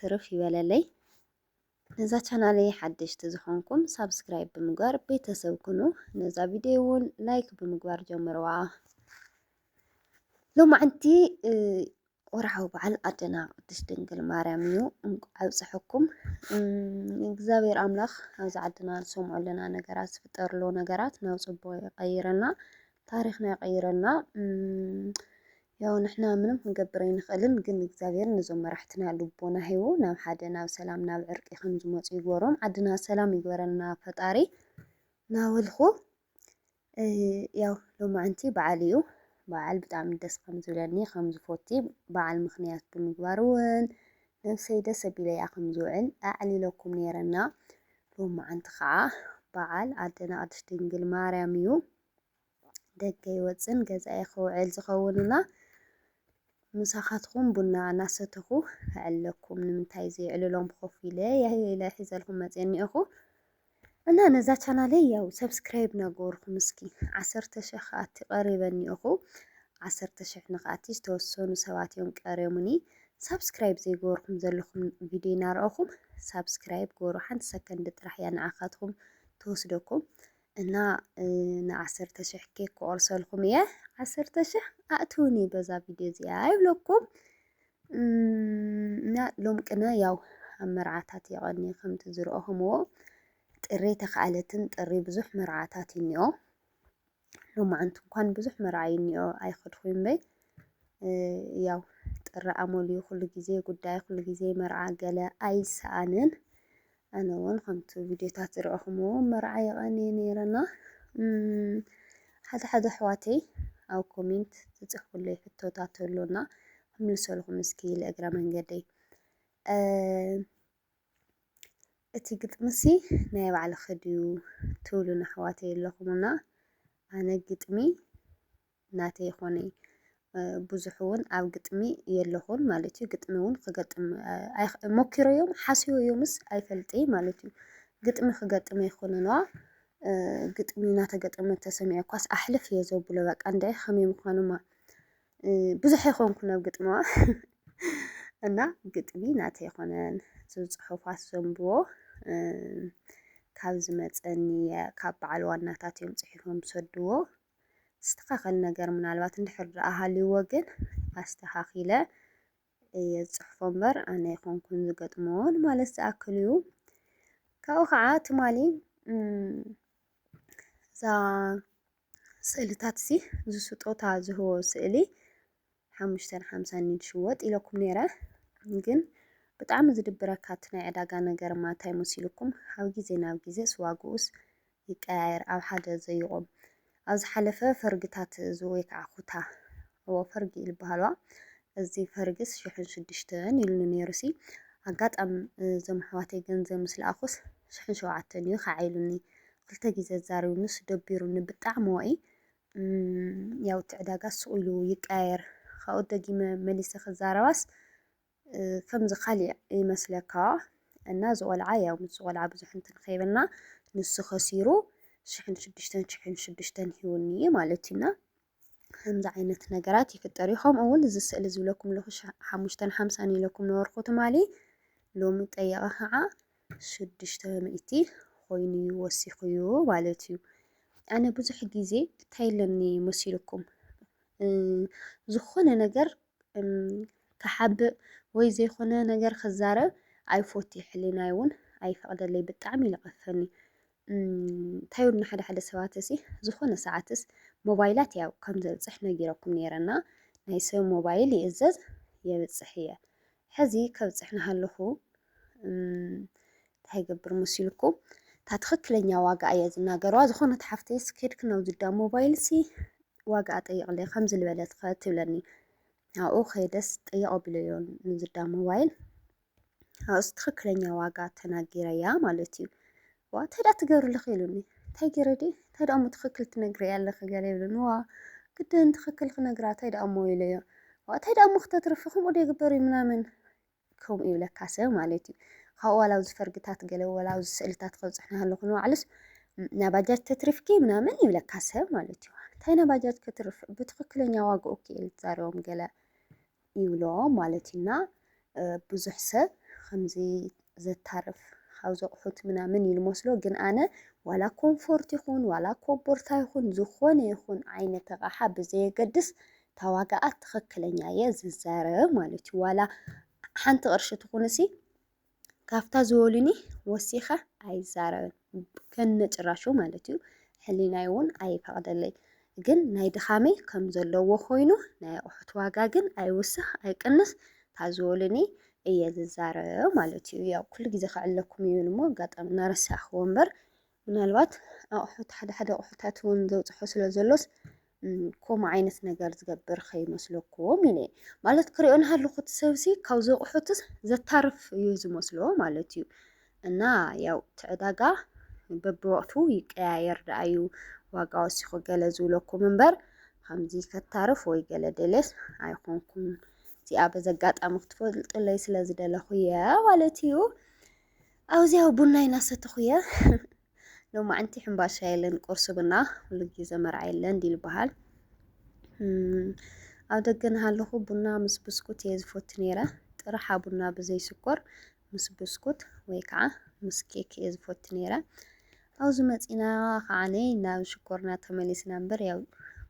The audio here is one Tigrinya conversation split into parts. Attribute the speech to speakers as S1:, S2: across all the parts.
S1: ትርፍ ይበለለይ። ነዛ ቻናለይ ሓደሽቲ ዝኾንኩም ሳብስክራይብ ብምግባር ቤተሰብ ኩኑ። ነዛ ቪድዮ እውን ላይክ ብምግባር ጀምርዋ። ሎማዕንቲ ወርዓዊ በዓል ኣደና ቅድስት ድንግል ማርያም እዩ። እንቋዕ ኣብፀሐኩም። እግዚኣብሔር ኣምላኽ ኣብዚ ዓድና ዝሰምዖ ኣለና ነገራት ዝፍጠርሎ ነገራት ናብ ፅቡቅ ይቀይረና፣ ታሪክና ይቀይረና። ያው ንሕና ምንም ክንገብር ኣይንኽእልን ግን እግዚኣብሔር ነዞም መራሕትና ልቦና ሂቡ ናብ ሓደ ናብ ሰላም ናብ ዕርቂ ከምዝመፁ ይግበሮም ዓድና ሰላም ይግበረልና ፈጣሪ ናበልኩ ያው ሎማዕንቲ በዓል እዩ በዓል ብጣዕሚ ደስ ከምዝብለኒ ከምዝፎቲ በዓል ምክንያት ብምግባር እውን ነብሰይ ደስ ኣቢለያ ከምዝውዕል ኣዕሊለኩም ነይረና ሎማዕንቲ ከዓ በዓል ኣደና ቅድስት ድንግል ማርያም እዩ ደገ ይወጽን ገዛይ ክውዕል ዝኸውን እና ምሳኻትኹም ቡና እናሰተኹ ክዕለኩም ንምንታይ ዘይዕልሎም ኮፍ ኢለ ኢለ ሒዘልኩም መጽየ እኒኦኹ እና ነዛ ቻናለይ ያው ሰብስክራይብ ናገበርኩም እስኪ ዓሰርተ ሽሕ ከኣቲ ቀሪበ እኒኦኹ ዓሰርተ ሽሕ ንክኣቲ ዝተወሰኑ ሰባት እዮም ቀሪዮሙኒ ሳብስክራይብ ዘይገበርኩም ዘለኹም ቪድዮ እናረኣኹም ሳብስክራይብ ገበሩ ሓንቲ ሰከንድ ጥራሕ እያ ንዓኻትኩም ትወስደኩም እና ንዓሰርተ ሽሕ ኬክ ክቆርሰልኩም እየ ዓሰርተ ሽሕ ኣእትውኒ በዛ ቪድዮ እዚኣ ይብለኩም እና ሎም ቅነ ያው ኣብ መርዓታት የቐኒ ከምቲ ዝረኦኹምዎ ጥሪ ተኸኣለትን ጥሪ ብዙሕ መርዓታት እዩ እኒኦ ሎማዓንቲ እንኳን ብዙሕ መርዓ እዩ እኒኦ ኣይኸድኹም እምበይ ያው ጥሪ ኣመልዩ ኩሉ ግዜ ጉዳይ ኩሉ ግዜ መርዓ ገለ ኣይሰኣንን ኣነ ውን ከምቲ ቪድዮታት ዝረኣኹምዎ መርዓ የቐንየ ነይረ እና ሓደ ሓደ ኣሕዋተይ ኣብ ኮሜንት ዝፅሕፉለይ ሕቶታት ኣሎ እና ክምልሰልኩም እስኪ ለእግረ መንገደይ እቲ ግጥሚሲ ናይ ባዕልኺ ድዩ ትብሉን ኣሕዋተይ ኣለኹም እና ኣነ ግጥሚ ናተይ ኾነ ብዙሕ እውን ኣብ ግጥሚ የለኹን ማለት እዩ። ግጥሚ እውን ክገጥም ሞኪሮ እዮም ሓስዮ እዮምስ ኣይፈልጠይ ማለት እዩ። ግጥሚ ክገጥም ኣይኮነንዋ ግጥሚ እናተገጠመ ተሰሚዐ ኳስ ኣሕልፍ እየ ዘብሎ በቃ እንታይ ከመይ ምዃኑማ ብዙሕ ኣይኮንኩን ናብ ግጥሚዋ እና ግጥሚ ናተ ይኮነን ዝፅሑፋት ዘንብቦ ካብ ዝመፀኒ ካብ በዓል ዋናታት እዮም ፅሒፎም ዝሰድዎ ዝስተኻኸል ነገር ምናልባት እንድሕር ደኣ ሃልዩዎ ግን ኣስተኻኺለ እየ ዝጽሕፎ እምበር ኣነ ኣይኮንኩን ዝገጥሞ ንማለት ዝኣክል እዩ። ካብኡ ከዓ ትማሊ እዛ ስእልታት እዚ ዝስጦታ ዝህቦ ስእሊ ሓሙሽተን ሓምሳን እዩ ዝሽወጥ ኢለኩም ነይረ ግን ብጣዕሚ ዝድብረካ እቲ ናይ ዕዳጋ ነገርማ እንታይ መሲሉኩም ካብ ግዜ ናብ ግዜስ ዋግኡስ ይቀያየር ኣብ ሓደ ዘይቆም ኣብ ዝሓለፈ ፈርግታት እዚ ወይ ከዓ ኩታ እዎ ፈርጊ እዩ ዝበሃልዋ እዚ ፈርግስ ሽሕን ሽዱሽተን ኢሉኒ ነይሩሲ ኣጋጣሚ እዞም ኣሕዋተይ ገንዘብ ምስ ለኣኹስ ሽሕን ሸውዓተን እዩ ከዓ ኢሉኒ ክልተ ግዜ ኣዛሪቡኒስ ደቢሩኒ ብጣዕሚ ወኢ እም ያው እቲ ዕዳጋ ስቕ ኢሉ ይቀያየር ካብኡ ደጊመ መሊሰ ክዛረባስ እ፣ ከምዚ ካሊእ ይመስለካ እና እዚ ቆልዓ ያው ምስ ቆልዓ ብዙሕ እንትን ከይበልና ንሱ ከሲሩ ሽሕን ሽዱሽተን ሽሕን ሽዱሽተን ሂውኒ እዩ ማለት እዩና ከምዚ ዓይነት ነገራት ይፍጠር እዩ ከምኡ እውን እዚ ስእሊ ዝብለኩም ኣለኹ ሸ- ሓሙሽተን ሓምሳን ኢለኩም ነበርኩ ትማሊ ሎሚ ጠየቐ ከዓ ሽዱሽተ ሚእቲ ኮይኑ እዩ ወሲኹዩ ማለት እዩ። ኣነ ብዙሕ ግዜ እንታይ ኣለኒ መሲልኩም ዝኾነ ነገር ክሓብእ ወይ ዘይኮነ ነገር ክዛረብ ኣይፎቲ ሕሊናይ እውን ኣይፈቕደለይ ብጣዕሚ ይለቐፈኒ እንታይ ውን ሓደ ሓደ ሰባት እሲ ዝኾነ ሰዓትስ ሞባይላት ያው ከም ዘብፅሕ ነጊረኩም ነይረና ናይ ሰብ ሞባይል ይእዘዝ የብፅሕ እየ ሕዚ ከብፅሕ ናሃለኹ እንታይ ገብር መሲልኩም እታ ትኽክለኛ ዋጋ እየ ዝናገረዋ ዝኾነት ሓፍተይ ስኬድክ ናብ ዝዳ ሞባይል ሲ ዋጋ ጠይቕለ ከምዚ ዝበለት ትብለኒ ኣብኡ ከይደስ ጠይቕ ኣቢለዮ ንዝዳ ሞባይል ኣብስ ትክክለኛ ዋጋ ተናጊረያ ማለት እዩ ዋ ተዳ ትገብርልኺ ኢሉኒ እንታይ ገይረ ድየ እንታይ ደኣ እሞ ትኽክል ትነግረያ ኣለኺ ገለ ይብሉኒ ዋ ግድን ትኽክል ክነግራ እንታይ ደኣ እሞ ኢለዮ ዋ እንታይ ደኣ እሞ ክተትርፊ ከምኡ ዶ ይግበር እዩ ምናምን ከምኡ ይብለካ ሰብ ማለት እዩ ካብኡ ዋላ ኣብዚ ፈርግታት ገለ ዋላ ኣብዚ ስእልታት ከብፅሕና ኣለኹ ንባዕሉስ ናይ ባጃጅ ተትርፍኪ ምናምን ይብለካ ሰብ ማለት እዩ እንታይ ናይ ባጃጅ ከትርፍ ብትኽክለኛ ዋግኡ ክኢል ትዛረቦም ገለ ይብሎ ማለት እዩ እና ብዙሕ ሰብ ከምዚ ዘታርፍ ካብ ዘቑሑት ምናምን እዩ ልመስሎ ግን ኣነ ዋላ ኮምፎርት ይኹን ዋላ ኮቦርታ ይኹን ዝኾነ ይኹን ዓይነት ኣቕሓ ብዘየገድስ ታዋጋኣ ትኽክለኛ እየ ዝዛረብ ማለት እዩ ዋላ ሓንቲ ቅርሺ ትኹንሲ ካብታ ዝበሉኒ ወሲኸ ኣይዛረብን ከነጭራሹ ማለት እዩ። ሕሊናይ እውን ኣይፈቕደለይ። ግን ናይ ድኻመይ ከም ዘለዎ ኮይኑ ናይ ኣቑሑት ዋጋ ግን ኣይውስኽ ኣይቅንስ ታዝበሉኒ እየ ዝዛረብ ማለት እዩ። ያው ኩሉ ግዜ ክዕለኩም ይብል እሞ ኣጋጣሚ እናረሳዕክዎ እምበር ምናልባት ኣቑሑት ሓደ ሓደ ኣቑሑታት እውን ዘውፅሖ ስለ ዘሎስ ከምኡ ዓይነት ነገር ዝገብር ከይመስለኩም ኢለ ማለት ክሪኦ ናሃለኹ እቲ ሰብሲ ካብዚ ኣቑሑትስ ዘታርፍ እዩ ዝመስሎ ማለት እዩ እና ያው እቲ ዕዳጋ በብወቅቱ ይቀያየር ደኣ እዩ ዋጋ ወሲኹ ገለ ዝብለኩም እምበር ከምዚ ከታርፍ ወይ ገለ ደልየስ ኣይኮንኩን እዚኣ በዚ ኣጋጣሚ ክትፈልጡለይ ስለ ዝደለኹ እየ ማለት እዩ ኣብዚያ ቡናይ ናሰተኹ እየ ሎማዕንቲ ሕምባሻ የለን ቁርሲ ብና ኩሉ ግዜ መርዓ የለን ዲል በሃል ኣብ ደገ ናሃለኹ ቡና ምስ ብስኩት እየ ዝፈቱ ነይረ ጥራሓ ቡና ብዘይ ስኮር ምስ ብስኩት ወይ ከዓ ምስ ኬክ እየ ዝፈቱ ነይረ ኣብዚ መፂና ከዓነ ናብ ሽኮርና ተመሊስና እምበር ያው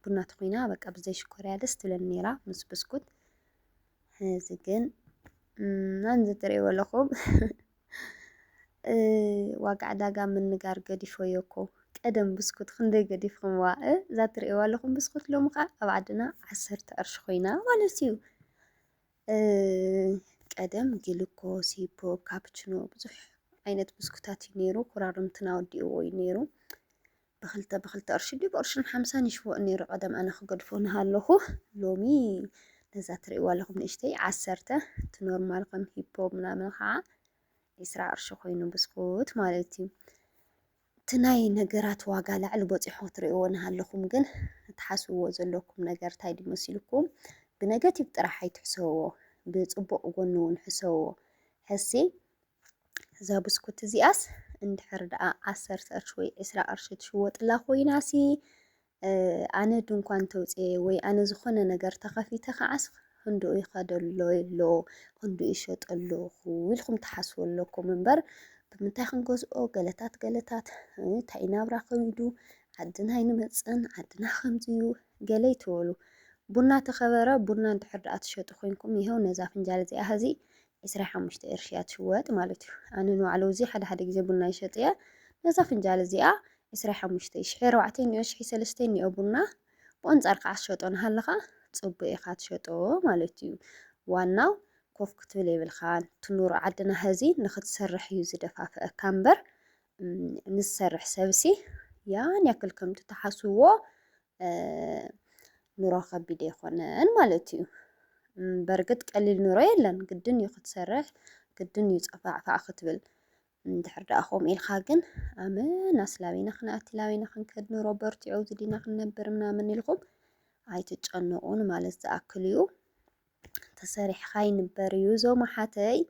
S1: ቡና ተኮይና በቃ ብዘይ ሽኮር እያ ደስ ትብለኒ ነይራ ምስ ብስኩት እዚ ግን መምዚ ትርእይዎ ኣለኹም ዋጋ ዕዳጋ ምንጋር ገዲፈዮ እኮ ቀደም ብስኩት ክንደይ ገዲፍኹምዋ እዛ ትርእይዋ ኣለኹም ብስኩት ሎሚ ከዓ ኣብ ዓድና ዓሰርተ ቅርሺ ኮይና ማለት እዩ ቀደም ግልኮስ ሂፖ ካፕችኖ ብዙሕ ዓይነት ብስኩታት እዩ ነይሩ ኩራርምትና ወዲእዎ እዩ ነይሩ ብክልተ ብክልተ ቅርሺ ድዩ ብቅርሽን ሓምሳን ይሽወጥ ነይሩ ቀደም ኣነ ክገድፎ ንሃለኹ ሎሚ ነዛ ትርእይዋ ኣለኹም ንእሽተይ ዓሰርተ እቲ ኖርማል ከም ሂፖ ምናምን ከዓ ዒስራ ቅርሺ ኮይኑ ብስኩት ማለት እዩ እቲ ናይ ነገራት ዋጋ ላዕሊ በፂሖ ክትርእይዎ ንሃለኹም ግን እትሓስብዎ ዘለኩም ነገር እንታይ ድዩ መሲልኩም ብነገቲቭ ጥራሕ ኣይትሕሰብዎ ብፅቡቅ ጎኒ እውን ሕሰብዎ ሕሲ እዛ ብስኩት እዚኣስ እንድሕር ደኣ ዓሰርተ ቅርሺ ወይ ዕስራ ቅርሺ ትሽወጥላ ኮይናሲ ኣነ ድንኳን ተውፅኤ ወይ ኣነ ዝኾነ ነገር ተኸፊተ ከዓስ ክንድኡ ይኸደሎ ኣሎ ክንድኡ ይሸጠለኹ ኢልኩም ትሓስቡ ኣለኩም እምበር ብምንታይ ክንገዝኦ ገለታት ገለታት እንታይ ናብራ ከሚዱ ዓድና ኣይንመፅን ዓድና ከምዚዩ ገለ ይትበሉ ቡና ተኸበረ ቡና እንድሕር ደኣ ትሸጡ ኮንኩም ይኸው ነዛ ፍንጃል እዚኣ ሕዚ ዕስራ ሓሙሽተ ቅርሺ እያ ትሽወጥ ማለት እዩ። ኣነ ንባዕሉ እዚ ሓደ ሓደ ግዜ ቡና ይሸጥ እየ ነዛ ፍንጃል እዚኣ ዕስራ ሓሙሽተ ሽሕ ኣርባዕተ እኒኦ ሽሕ ሰለስተ እኒኦ ቡና ብቆንጻር ከዓ ትሸጦ ናሃለኻ ጽቡቅ ኢኻ ትሸጦ ማለት እዩ ዋናው ኮፍ ክትብል የብልካን ትኑሩ ዓድና ሀዚ ንክትሰርሕ እዩ ዝደፋፍአካ እምበር ንዝሰርሕ ሰብሲ ያን ያክል ከምቲ ትሓስብዎ ኑሮ ከቢድ ኣይኮነን ማለት እዩ። በርግጥ ቀሊል ኑሮ የለን፣ ግድን እዩ ክትሰርሕ፣ ግድን እዩ ፀፋዕፋዕ ክትብል። እንድሕር ደኣ ከምኡ ኢልካ ግን ኣመናስ ላበይና ክንኣቲ ላበይና ክንከድ ኑሮ በርቲዑ ኣብዚ ዲና ክንነብር ምናምን ኢልኩም ኣይትጨነቑ ንማለት ዝኣክል እዩ። ተሰሪሕካ ይንበር እዩ ዞም ሓተይ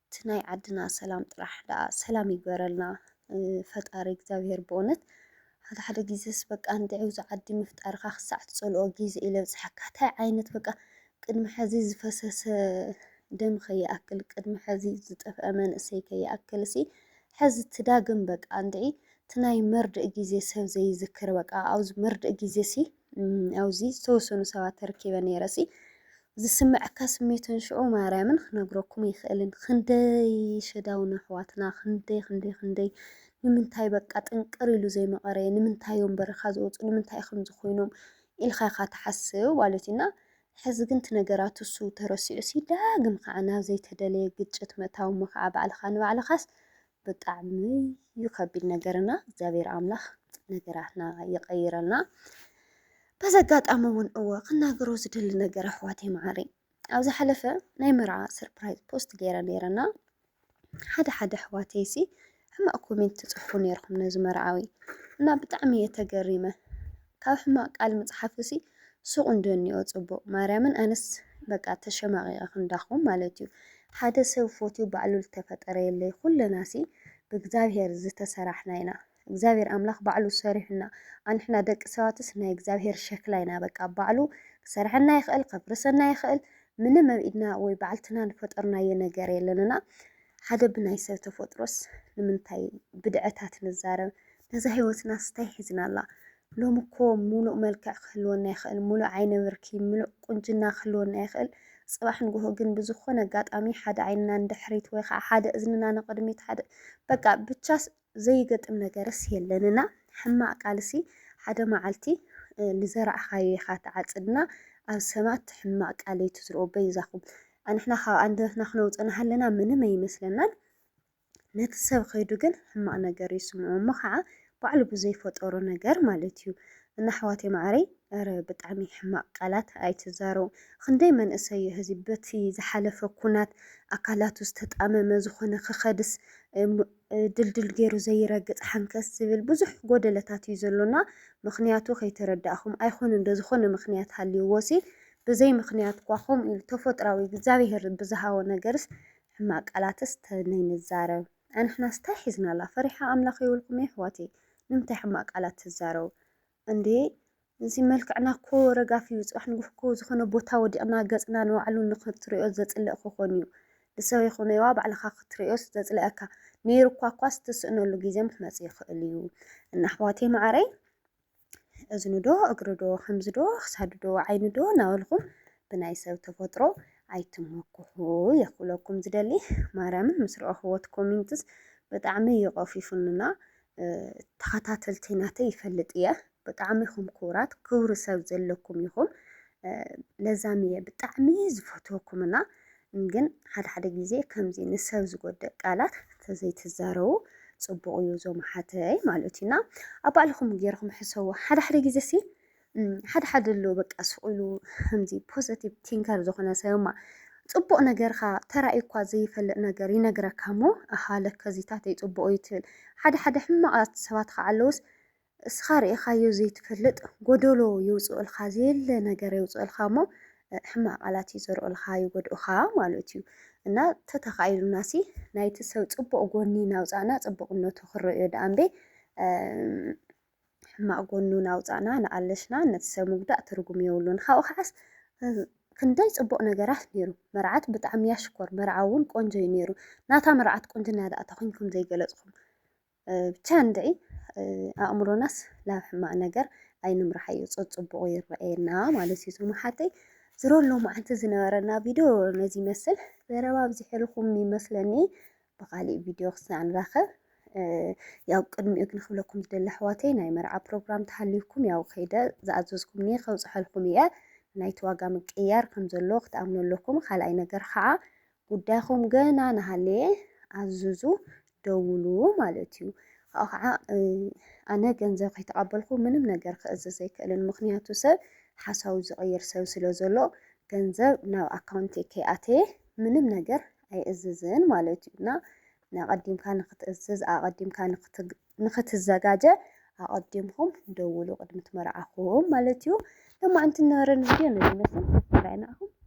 S1: እቲ ናይ ዓድና ሰላም ጥራሕ ዳኣ ሰላም ይግበረልና ፈጣሪ እግዚኣብሄር ብእውነት ሓደ ሓደ ግዜስ በቃ እንድዒ ኣብዚ ዓዲ ምፍጣርካ ክሳዕ ትጸልኦ ግዜ ኢለ ብጽሓካ ታይ ዓይነት በቃ ቅድሚ ሕዚ ዝፈሰሰ ደም ከይኣክል ቅድሚ ሕዚ ዝጠፍአ መንእሰይ ከይኣክል ሲ ሕዚ ትዳግም በቃ እንድዒ እቲ ናይ መርድእ ግዜ ሰብ ዘይዝክር በቃ ኣብዚ መርድእ ግዜ ሲ ኣብዙይ ዝተወሰኑ ሰባት ተረኪበ ነይረሲ ዝስምዐካ ስሜትን ሽዑ ማርያምን ክነግረኩም ይኽእልን ክንደይ ሸዳውን ኣሕዋትና ክንደይ ክንደይ ክንደይ ንምንታይ በቃ ጥንቅር ኢሉ ዘይመቐረ ንምንታይ እዮም በረኻ ዝወፁ ንምንታይ ከም ዝኾይኖም ኢልካ ኢኻ ትሓስብ ማለት እዩና ሕዚ ግን እቲ ነገራት እሱ ተረሲዑ ሲ ዳግም ከዓ ናብ ዘይተደለየ ግጭት ምእታው እሞ ከዓ ባዕልኻ ንባዕልኻስ ብጣዕሚ እዩ ከቢድ ነገር እና እግዚኣብሔር ኣምላኽ ነገራትና ይቀይረልና። በዚ ኣጋጣሚ እውን እወ ክናገሮ ዝደሊ ነገር ኣሕዋተይ መዓረይ ኣብ ዝሓለፈ ናይ መርዓ ሰርፕራይዝ ፖስት ገይረ ነይረና ሓደ ሓደ ኣሕዋተይ ሲ ሕማቅ ኮሜንት ትጽሕፉ ነይርኩም ነዚ መርዓዊ እና ብጣዕሚ እየ ተገሪመ ካብ ሕማቅ ቃል ምጽሓፍ'ሲ ሱቅ እንድዮ እኒኦ ጽቡቅ ማርያምን ኣነስ በቃ ተሸማቂቀ ክንዳኩም ማለት እዩ ሓደ ሰብ ፎትዩ ባዕሉ ልተፈጠረ የለይ ኩለና'ሲ ብእግዛብሄር ዝተሰራሕና ኢና እግዚኣብሄር ኣምላክ ባዕሉ ሰሪሑና ኣንሕና ደቂ ሰባትስ ናይ እግዚኣብሄር ሸክላ ኢና በቃ ባዕሉ ክሰርሐና ይክእል ከፍርሰና ይክእል ምንም ኣብ ኢድና ወይ ባዕልትና ልፈጠርናዮ ነገር የለን እና ሓደ ብናይ ሰብ ተፈጥሮስ ንምንታይ ብድዐታት ንዛረብ እዛ ህይወትናስ ታይ ሒዝናላ ሎሚ እኮ ሙሉእ መልክዕ ክህልወና ይኽእል ሙሉእ ዓይነ ብርኪ ምሉእ ቁንጅና ክህልወና ይኽእል ፅባሕ ንጉሆ ግን ብዝኾነ ኣጋጣሚ ሓደ ዓይንና ንድሕሪት ወይ ከዓ ሓደ እዝንና ንቅድሚት ሓደ በቃ ብቻስ ዘይገጥም ነገርስ የለን እና ሕማቅ ቃልሲ ሓደ መዓልቲ ልዘራእኻዮ ኢኻ ትዓፅድ እና ኣብ ሰባት ሕማቅ ቃል ኣይትዝርኡ በይዛኹም ኣንሕና ካብ ኣንደበትና ክነውፅእ ናሃለና ምንም ኣይመስለናን ነቲ ሰብ ከይዱ ግን ሕማቅ ነገር ይስምዖ እሞ ከዓ ባዕሉ ብዘይ ፈጠሮ ነገር ማለት እዩ እና ኣሕዋተይ ማዓረይ እረ ብጣዕሚ ሕማቅ ቃላት ኣይትዛረቡ ክንደይ መንእሰይ እዩ ህዚ በቲ ዝሓለፈ ኩናት ኣካላቱ ዝተጣመመ ዝኮነ ክከድስ ድልድል ገይሩ ዘይረግፅ ሓንከስ ዝብል ብዙሕ ጎደለታት እዩ ዘሎና ምክንያቱ ከይተረዳእኩም ኣይኮነ ዶ ዝኮነ ምክንያት ሃልይዎሲ ብዘይ ምክንያት ኳ ከምኡ ኢሉ ተፈጥራዊ እግዚኣብሄር ብዝሃቦ ነገርስ ሕማቅ ቃላትስ ተነይንዛረብ ኣንሕናስ ታይ ሒዝናላ ፈሪሓ ኣምላክ የብልኩም የሕዋተይ ንምንታይ ሕማቅ ቃላት ትዛረቡ እንዴ እዚ መልክዕና እኮ ረጋፊ እዩ ጽባሕ ንጉህ እኮ ዝኮነ ቦታ ወዲቅና ገጽና ንባዕሉ ንክትሪኦ ዘጽልእ ክኮን እዩ ንሰብ ይኩነይዋ ባዕልካ ክትሪኦስ ዘጽልኣካ ነይሩ እኳ እኳስ ትስእነሉ ግዜ ምክመጽእ ይክእል እዩ እና ኣሕዋተይ ማዓረይ እዝኑዶ እግሩዶ ከምዝዶ ክሳዱዶ ዓይኑዶ እናበልኩም ብናይ ሰብ ተፈጥሮ ኣይትመኩሑ እየ ክብለኩም ዝደሊ ማርያምን ምስ ረኣኹዎ እቲ ኮሜንትስ ብጣዕሚ እዩ ቀፊፉንና ተኸታተልቲ ናተይ ይፈልጥ እየ ብጣዕሚ ኢኹም ክቡራት ክብሪ ሰብ ዘለኩም ኢኹም ለዛም እየ ብጣዕሚ ዝፈትወኩምና ግን ሓደ ሓደ ግዜ ከምዚ ንሰብ ዝጎድእ ቃላት ተዘይትዛረቡ ጽቡቅ እዩ ዞም ኣሓተይ ማለት እዩ እና ኣብ ባዕልኹም ጌርኹም ሕሰቡ ሓደ ሓደ ግዜ ሲ ሓደ ሓደ ኣሎ በቃ ስቅ ኢሉ ከምዚ ፖዘቲቭ ቲንከር ዝኾነ ሰብማ ጽቡቅ ነገርካ ተራእዩ እኳ ዘይፈልጥ ነገር ይነግረካ እሞ ኣሃ ለከዚታተይ ጽቡቅ እዩ ትብል ሓደ ሓደ ሕማቃት ሰባት ከዓ ኣለውስ እስኻ ርኢኻዮ ዘይትፈልጥ ጎዶሎ ይውጽኡልኻ ዘየለ ነገር የውጽኡልካ እሞ ሕማቅ ቃላት ይዘርኡልኻ ይጎድኡኻ ማለት እዩ እና ተተኻኢሉናሲ ናይቲ ሰብ ጽቡቅ ጎኒ ናውጻእና ጽቡቅነቱ ክረእዮ ደኣ እምበይ ሕማቅ ጎኑ ናውጻእና ንኣለሽና ነቲ ሰብ ምጉዳእ ትርጉም የብሉን ካብኡ ከዓስ ክንደይ ጽቡቅ ነገራት ነይሩ መርዓት ብጣዕሚ እያ ሽኮር መርዓ እውን ቆንጆ እዩ ነይሩ ናታ መርዓት ቁንጅና ደኣ ተኮንኩም ዘይገለጽኩም ብቻ እንድዒ ኣእምሮናስ ናብ ሕማቅ ነገር ኣይንምርሓዮ ጸጽቡቑ ይረኣየና ማለት እዩ ዝመሓተይ ዝሮ ሎማዓንቲ ዝነበረና ቪድዮ ነዚ ይመስል ዘረባ ኣብዚሕልኹም ይመስለኒ ብኻሊእ ቪድዮ ክስና ንራኸብ ያው ቅድሚኡ ግን ክብለኩም ዝደሊ ኣሕዋተይ ናይ መርዓ ፕሮግራም ተሃልዩኩም ያው ከይደ ዝኣዘዝኩምኒ ከብፅሐልኩም እየ ናይቲ ዋጋ ምቅያር ከም ዘሎ ክትኣምኑ ኣለኩም ካልኣይ ነገር ከዓ ጉዳይኹም ገና ናሃለየ ኣዙዙ ደውሉ ማለት እዩ። ካብኡ ከዓ ኣነ ገንዘብ ከይተቐበልኩ ምንም ነገር ክእዝዝ ኣይክእልን። ምኽንያቱ ሰብ ሓሳቡ ዝቕይር ሰብ ስለ ዘሎ ገንዘብ ናብ ኣካውንተይ ከይኣተየ ምንም ነገር ኣይእዝዝን ማለት እዩ እና ንኣቐዲምካ ንክትእዝዝ ኣቐዲምካ ንክትዘጋጀ ኣቐዲምኩም ደውሉ ቅድሚ ትመርዓኹም ማለት እዩ። ለማዕንቲ ንበረን ቪድዮ ነዚ መስል ሰብስክራይብ ንዓኹም